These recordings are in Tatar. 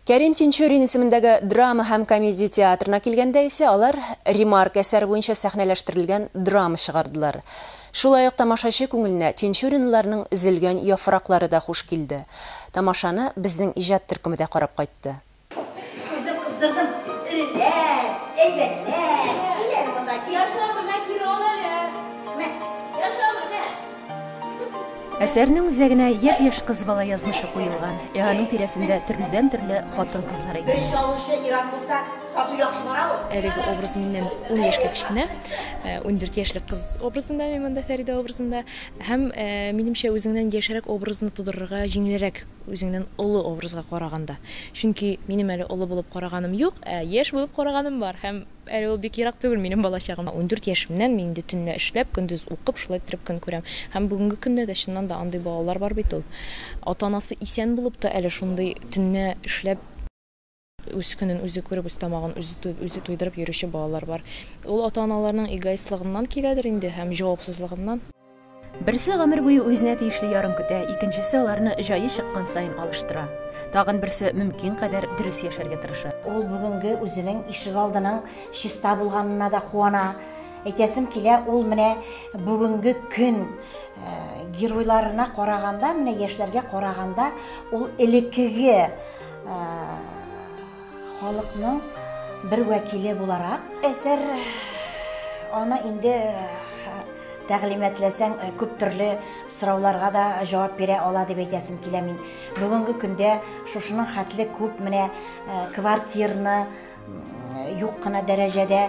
Кәрим Тинчурин исемендәге драма һәм комедия театрына килгәндә исә алар Ремарк әсәре буенча сәхнәләштерелгән драма чыгардылар. Шулай ук тамашачы күңеленә Тинчуринларның Өзелгән яфраклары да хуш килде. Тамашаны безнең иҗат төркеме дә карап кайтты. Үзем кыздырдым, эреләр, әйбәтләр, кил әле монда, кил. Яшә менә, кире ал әле. Мә. Яшә менә. Әсәрнең үзәгенә япь-яшь кыз бала язмышы куелган, ә аның тирәсендә төрледән-төрле хатын-кызлар әйбәт. Беренче алучы ир-ат булса, сату яхшы бара ул. Әлеге образ миннән ун яшькә кечкенә. Ундүрт яшьлек кыз образында мин монда, Фәридә образында. Һәм, минемчә, үзеңнән яшьрәк образны тудырырга җиңелрәк. үзеңнән олы образга караганда. Чөнки минем әле олы булып караганым юк, ә яшь булып караганым бар һәм әле ул бик ерак түгел минем балачагым. Ундүрт яшемнән мин инде төнлә эшләп, көндез укып, шулай иттереп көн күрәм. Һәм бүгенге көндә дә чыннан да андый балалар бар бит ул. Ата-анасы исән булып та әле шундый төнлә эшләп. Үз көнен үзе күреп, үз тамагын үзе туеп, үзе туйдырып йөрүче балалар бар. Ул ата-аналарның эгоистлыгыннан киләдер инде һәм җавапсызлыгыннан. Берсе гомер буе үзенә тиешле ярын көтә, икенчесе аларны җае чыккан саен алыштыра. Тагын берсе мөмкин кадәр дөрес яшәргә тырыша. Ул бүгенге үзенең ишегалдының чиста булганына да куана. Әйтәсем килә, ул менә бүгенге көн геройларына караганда, менә яшьләргә караганда, ул элеккеге, Халыкның бер вәкиле буларак, әсәр аны инде тәгълиматләсәң, күп төрле сорауларга да җавап бирә ала дип әйтәсем килә мин. Бүгенге көндә шушының хәтле күп менә квартирны, юк кына дәрәҗәдә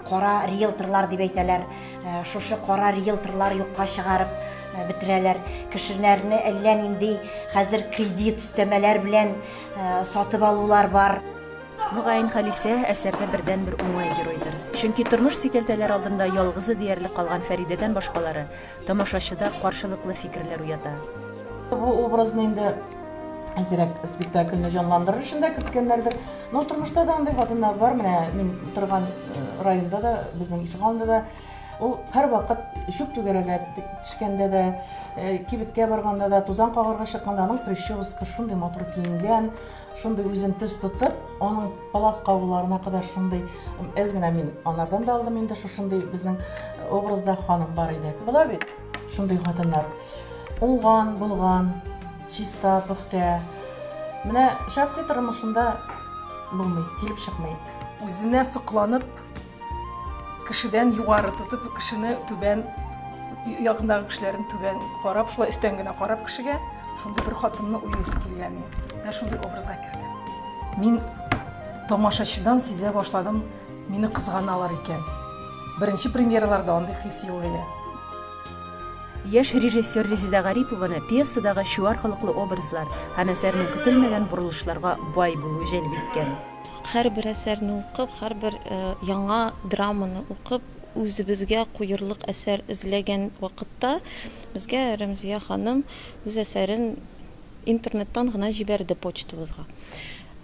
кара риэлторлар дип әйтәләр шушы кара риэлторлар юкка чыгарып бетерәләр кешеләрне әллә нинди хәзер кредит өстәмәләр белән сатып алулар бар Мөгаен Халисә әсәрдә бердән бер уңай геройдыр. Чөнки тормыш сикәлтәләр алдында ялгызы диярлек калган Фәридәдән башкалары тамашачыда каршылыклы фикерләр уята. Бу образны инде әзрәк спектакльне җанландырыр өчен дә керткәннәрдер. Но тормышта да андый хатыннар бар. Менә мин торган районда да, безнең ишегалдында да ул һәрвакыт чүп түгәрәгә төшкәндә дә, кибеткә барганда да, тузан кагарга чыкканда аның прическасы шундый матур киенгән, Шундый үзен төс тотып, аның палас кагуларына кадәр шундый әз генә мин анардан да алдым инде шушындый безнең э, образда ханым бар иде. Була бит шундый хатыннар. Уңган, булган, чиста, пөхтә. Менә шәхси тормышында булмый, килеп чыкмый. Үзенә сокланып, Кешедән югары тотып, кешене түбән, ягындагы кешеләрен түбән карап, шулай өстән генә карап кешегә, шундый бер хатынны уйлыйсы килгән. Менә шундый образга кердем. Мин тамашачыдан сизә башладым, мине кызганалар икән. Беренче премьераларда андый хис юк иде. Яшь режиссер Резеда Гарипованы пьесадагы чуар холыклы образлар һәм әсәрнең көтелмәгән борылышларга бай булуы җәлеп иткән. Һәрбер әсәрне укып, һәрбер яңа драманы укып, үзебезгә куерлык әсәр эзләгән вакытта, безгә Рәмзия ханым үз әсәрен интернеттан гына җибәрде почтабызга.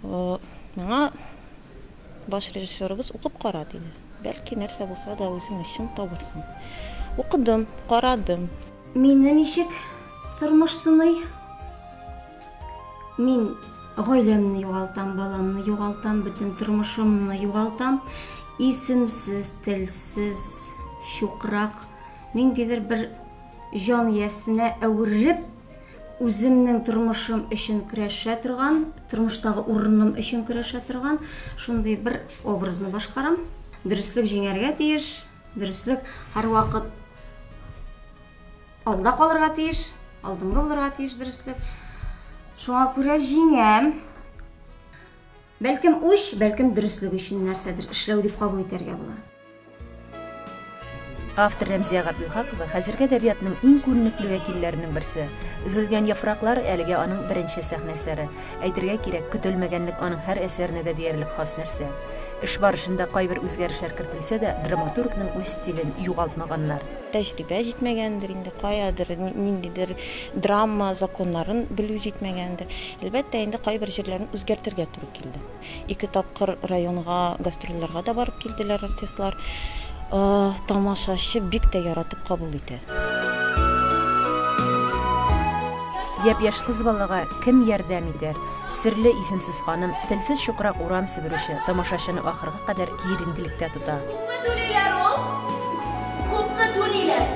Миңа баш режиссерыбыз укып кара, диде. Бәлки, нәрсә булса да үзең өчен табырсың. Укыдым, карадым. Мине ничек тормыш сыный? Мин гаиләмне югалтам, баламны югалтам, бөтен тормышымны югалтам. Исемсез, телсез, чукрак, ниндидер бер җан иясенә әверелеп, үземнең тормышым өчен көрәшә торган, тормыштагы урыным өчен көрәшә торган шундый бер образны башкарам. Дөреслек җиңәргә тиеш, дөреслек һәрвакыт Алда калырга тиеш, алдынгы булырга тиеш дөреслек. Шуңа күрә җиңәм. Бәлкем үч, бәлкем дөреслек өчен нәрсәдер эшләү дип кабул итәргә була. Автор Рәмзия Габдулхакова хәзерге әдәбиятның иң күренекле вәкилләренең берсе. Өзелгән яфраклар әлегә аның беренче сәхнә әсәре. Әйтергә кирәк, көтелмәгәнлек аның һәр әсәренә дә диярлек хас нәрсә. Эш барышында кайбер үзгәрешләр кертелсә дә, драматургның үз стилен югалтмаганнар. Тәҗрибә җитмәгәндер инде, каядыр ниндидер драма законнарын белү җитмәгәндер. Әлбәттә инде, кайбер җирләрен үзгәртергә туры килде. Ике тапкыр районга гастрольләргә дә барып килделәр артистлар. Тамашачы бик тә яратып кабул итә. Япь-яшь кыз балага кем ярдәм итәр? Серле исемсез ханым, телсез чукрак урам себерүче, тамашачыны ахырга кадәр киеренкелектә тота. Күпме түлиләр ул? Күпме түлиләр?